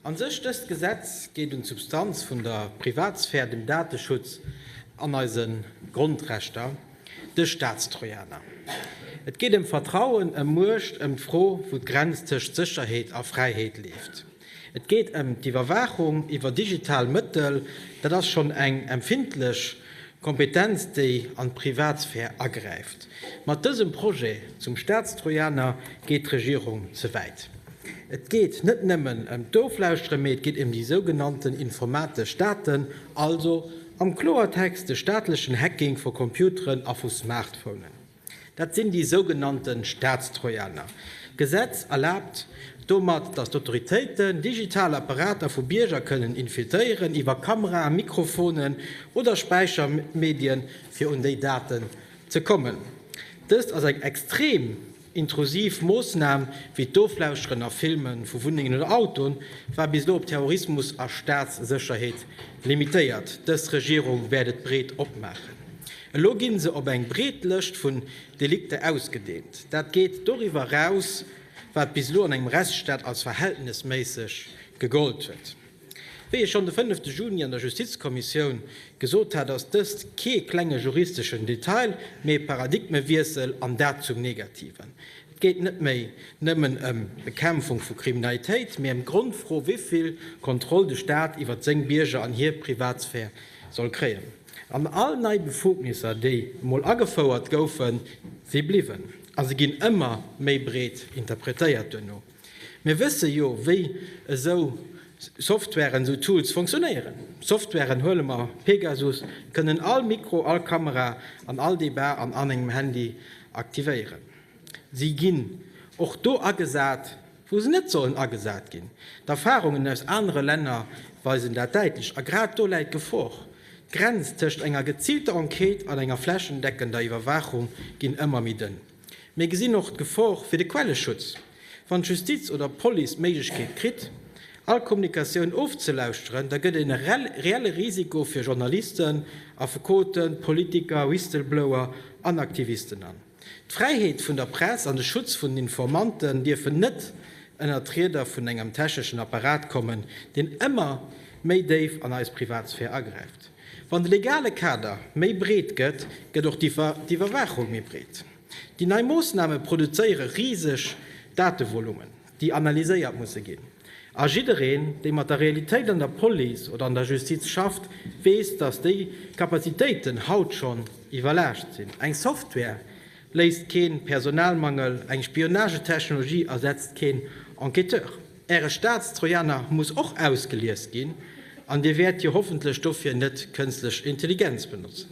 A sech, dëst Gesetz geet un d'Substanz vun der Privatsphär, dem Dateschutz an eise Grondrechter, de Staatstrojaner. Et geet ëm Vertrauen, ëm Muecht, ëm d'Fro, wou d'Grenz tëscht Sécherheet a Fräiheet leeft. Et geet ëm d'Iwwerwaachung iwwer digital Mëttel. Dat ass schonn eng empfindlech Kompetenz, déi an d'Privatsphär agräift. Mat dësem Projet zum Staatstrojaner geet d'Regierung ze wäit. Et geet net nëmmen ëm d'Oflauschtere, mee et geet ëm déi sougenannten informatesch Daten, also am Kloertext de staatlechen Hacking vu Computeren a vu Smartphonen. Dat sinn déi sougenannte Staatstrojaner. D'Gesetz erlaabt domat, datt d'Autoritéiten digital Apparater vu Bierger kënnen infiltréieren iwwer Kameraen, Mikrofonen oder Späichermedien, fir un déi Daten ze kommen. Dëst ass eng extrem Intrusiv Moossnamen, wéi d'Oflauschteren a Filme vu Wunnengen oder Autoen, war bis elo op Terrorismus a Staatssécherheet limitéiert. Dës Regierung wäert et breet opmaachen. Elo ginn se op eng breet Lëscht vun Delikter ausgedeent. Dat geet doriwwer eraus, wat bis elo an engem Rechtsstaat als verhältnesméisseg gegollt huet. Wéi ech schonn de fënnefte Juni an der Justizkommissioun gesot hat, ass dëst kee klenge juristeschen Detail, mee e Paradigmewiessel, an dat zum Negativen. Et geet net méi nëmmen ëm d'Bekämpfung vu Kriminalitéit, mee ëm d'Grondfro, wéivill Kontroll de Staat iwwert seng Bierger an hir Privatsphär soll kréien. An all nei Befugnisser, déi emol agefouert goufen, si bliwwen a se ginn ëmmer méi breet interpretéiert duerno. Mir wësse jo, wéi esou Softwaren, esou Tools funktionéieren. Softwaren, huele mer Pegasus, kënnen all Mikro, all Kamera an all Debat an anengem Handy aktivéieren. Si ginn och do agesat, wou se net sollen agesat ginn. D'Erfarungen aus anere Länner weisen dat däitlech. A grad do läit d'Gefor. D'Grenz tëscht enger geziilter Enquête an enger flächendeckender Iwwerwaachung ginn ëmmer méi dënn. Mir gesinn och d'Gefor fir de Quelleschutz. Wann d'Justiz oder d'Police d'Méiglechkeet kritt, all Kommunikatioun ofzelauschteren, da gëtt et e reelle Risiko fir Journalisten, Affekoten, Politiker, Whistleblower an Aktivisten. An d'Fräiheet vun der Press an de Schutz vun den Informanten dierfen net ënnert d'Rieder vun engem techneschen Apparat kommen, deen ëmmer méi déif an eis Privatsphär agräift. Wann de legale Kader méi breet gëtt, gëtt och d'Iwwerwaachung méi breet. Déi nei Moossname produzéiere riseg Datevolummen, déi analyséiert musse ginn. A jiddereen, dee mat der Realitéit an der Police oder an der Justiz schafft, weess, datt déi Kapazitéiten haut schonn iwwerlaascht sinn. Eng Software Léist keen Personalmangel, eng Spionagetechnologie ersetzt keen Enquêteur. Äre Staatstrojaner muss och ausgelies ginn, an Dir wäert jo hoffentlech dofir net kënstlech Intelligenz benotzen.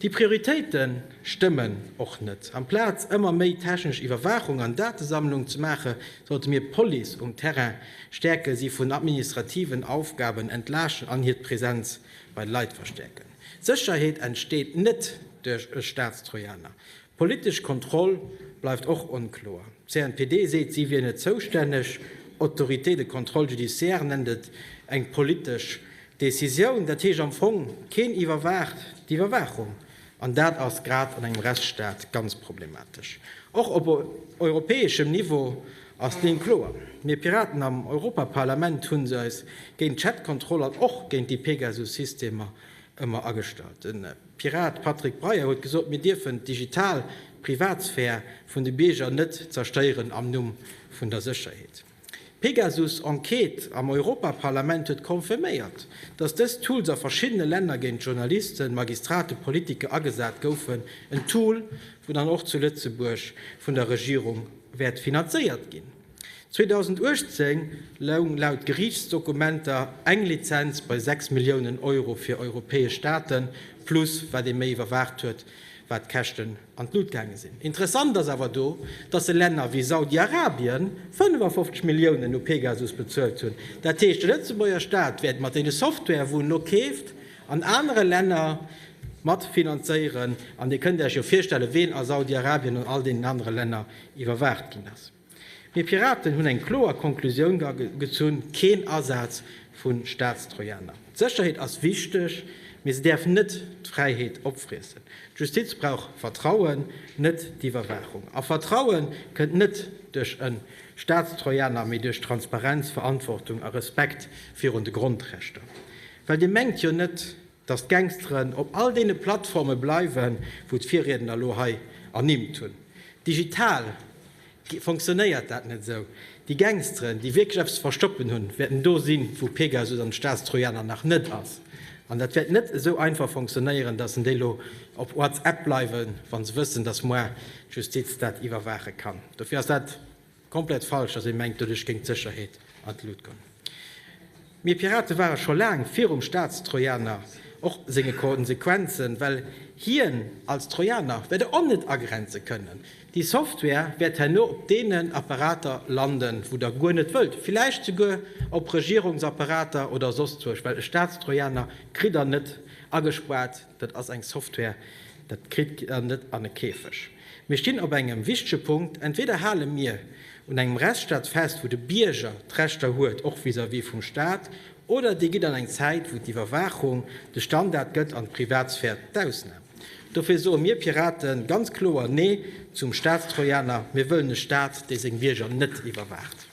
Déi Prioritéite stëmmen och net. Amplaz ëmmer méi technesch Iwwerwaachung an Datesammlung ze maache sollte mir d'Police um Terrain stäerken, si vun administrativen Aufgaben entlaaschten an hir d'Presenz bei de Leit verstäerken. D'Sécherheet entsteet net duerch e Staatstrojaner. D'politesch Kontroll bleift och onkloer. D'CNPD seet, si wier net zoustänneg. Autorité de contrôle judiciaire nennt et eng politesch Decisioun. Dat heescht am Fong, keen iwwerwaacht d'Iwwerwaachung. An dat ass grad an engem Rechtsstaat ganz problematesch. Och op europäeschem Niveau Ass deen kloer? Mir Piraten am Europaparlament hunn se eis géint d'Chatkontroll an och géint déi Pegasus-Systemer ëmmer agestallt. De Pirat Patrick Breyer huet gesot, mir dierfen d'digital Privatsphär vun de Bierger net zerstéieren am Numm vun der Sécherheet. D'Pegasus-Enquête am Europaparlament huet confirméiert, datt dës Tools a verschiddene Länner géint Journalisten, Magistrate, Politiker agesat goufen, en Tool, wou dann och zu Lëtzebuerg vun der Regierung wäert finanzéiert ginn. 2018 loung laut Geriichtsdokumenter eng Lizenz bei 6 Milliounen Euro fir europäesch Staaten, plus wat ee méi iwwerwaacht huet, wat d'Käschten an d'Lut gaange sinn. Interessant ass awer do, datt e Länner wéi Saudi-Arabien 55 Milliounen u Pegasus bezuelt hunn. Dat heescht, de Lëtzebuerger Staat wäert mat deene Software, wou en elo keeft, an anere Länner mat finanzéieren, an Dir kënnt Iech jo virstellen, ween a Saudi-Arabien an all deenen anere Länner iwwerwaacht ginn ass. Mir Piraten hunn eng kloer Konklusioun gezunn, keen Asaz vu Staatstrojaner. D'Sécherheet ass wichteg, mee se däerf net d'Fräiheet opfriessen. D'Justiz brauch Vertrauen, net d'Iwwerwaachung. A Vertraue kënnt net duerch e Staatstrojaner, mee duerch Transparenz, Verantwortung a Respekt virun de Grondrechter. Well Dir mengt jo net, datt d'Gangsteren op all deene Plattforme bleiwen, wou d'Virriedner lo hei ernimmt hunn. Digital fonctionnéiert dat net esou. Déi Gangsteren, déi wierklech eppes ze verstoppen hunn, wäerten do sinn, wou Pegasus an de Staatstrojaner nach net ass. An dat wäert net esou einfach fonctionnéieren, datt en déi lo op WhatsApp bleiwen, wa se wëssen, datt moar d'Justiz dat iwwerwaache kann. Dofir ass dat. Komplett falsch, dass ee mengt doduerch géing d'Sécherheet an d'Lut goen. Mir Pirate ware scho laang virum Staatstrojaner, och senge Konsequenzen, well hien als Trojaner wäert e net agrenze kënnen. Déi Software wäert herno op deenen Apparater landen, wou Der guer net wëllt, villäicht souguer op Regierungsapparater oder soss zwousch, well e Staatstrojaner kritt Der net agespaart. Dat ass eng Software, dat kritt Der net an e Käfeg. Mir stinn op engem wichtege Punkt, entweeder hale mir un engem Rechtsstaat fest, wou de Bierger d'Rechter huet, och vis-à-vis vum Staat, oder Dir gitt an eng Zäit, wou d'Iwwerwaachung de Standard gëtt an d'Privatsphär d'Ausnam. Dofir soe mir Pirate ganz kloer Nee zum Staatstrojaner. Mir wëllen e Staat, dee seng Bierger net iwwerwaacht.